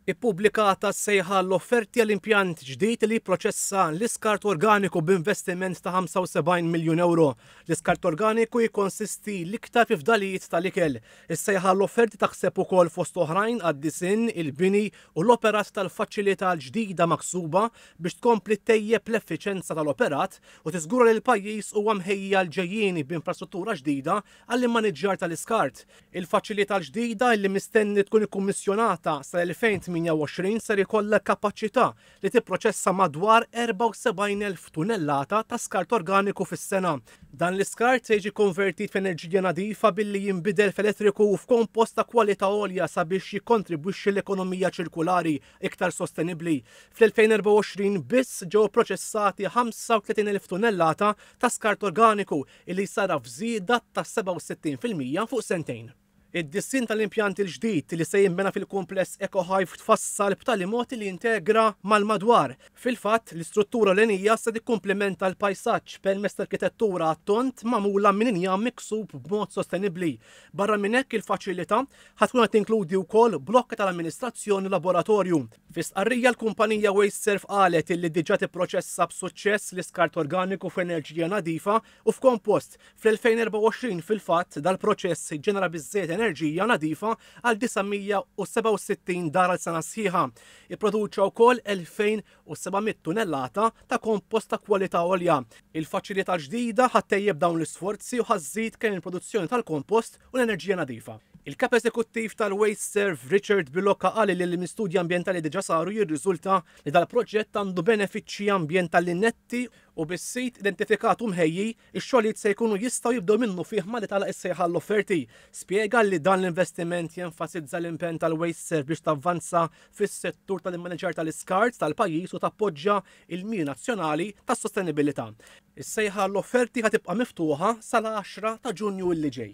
Ippubblikata s-sejħa għall-offerti għal impjant ġdid li jipproċessa l-iskart organiku b'investiment ta' 75 miljun ewro. L-iskart organiku jikkonsisti l-iktar fi fdalijiet tal-ikel. Is-sejħa għall-offerti taħseb ukoll fost oħrajn għad-disinn, il-bini u l-operat tal-faċilità l-ġdida maħsuba biex tkompli ttejjeb l-effiċenza tal-operat u tiżgura li l-pajjiż huwa mħejji għall-ġejjieni b'infrastruttura ġdida għall-immaniġġjar tal-iskart Il-faċilità l-ġdida li mistenni tkun ikkummissjonata sal-2028 ser ikollha l-kapaċità li tipproċessa madwar 74,000 tunellata ta' skart organiku fis-sena. Dan l-iskart se jiġi konvertit f'enerġija nadifa billi jinbidel f'elettriku u f'kompost ta' kwalità għolja sabiex jikkontribwixxi l-ekonomija ċirkulari iktar sostenibbli. Fl-2024 biss ġew ipproċessati 35,000 tunellata ta' skart organiku li jsarraf żieda ta' 67 fil-mija fuq sentejn. Id-disinn tal-impjant il-ġdid li se jinbena fil-kumpless EcoHive tfassal b'tali mod li jintegra mal-madwar. Fil-fatt, l-istruttura ewlenija se tikkumplimenta l-pajsaġġ permezz ta' arkitettura għat-tond magħmula minn injam miksub b'mod sostenibbli. Barra minn hekk, il-faċilità ħa tkun qed tinkludi wkoll blokki tal-amministrazzjoni u laboratorju. Fi stqarrija l-kumpanija Wasteserv qalet illi diġà tipproċessa b'suċċess l-iskart organiku f'enerġija nadifa u f'kompost. Fl-2024 fil-fatt dal-proċess ġġenera biżżejjed enerġija nadifa għal 967 dar għal sena sħiħa. Ipproduċa wkoll 2,700 tunellata ta' kompost ta' kwalità għolja. Il-faċilità l-ġdida ħa ttejjeb dawn l-isforzi u ħa żżid kemm il-produzzjoni tal-kompost u l-enerġija nadifa. Il-Kap Eżekuttiv tal-WasteServ, Richard Biloca qal li minn studji ambjentali li diġà saru jirriżulta li dal-proġett għandu benefiċċji ambjentali netti, u bis-sit identifikat u mħejji, ix-xogħlijiet se jkunu jistgħu jibdew minnufih malli tagħlaq is-sejħa għall-offerti. Spjega li dan l-investiment jenfasizza l-impenn tal-WasteServ biex tavvanza fis-settur tal-immaniġġar tal-iskart tal-pajjiż u tappoġġja il-miri nazzjonali tas-sostenibilità. Is-sejħa għall-offerti ħa tibqa' miftuħa sal-10 ta' Ġunju li ġej.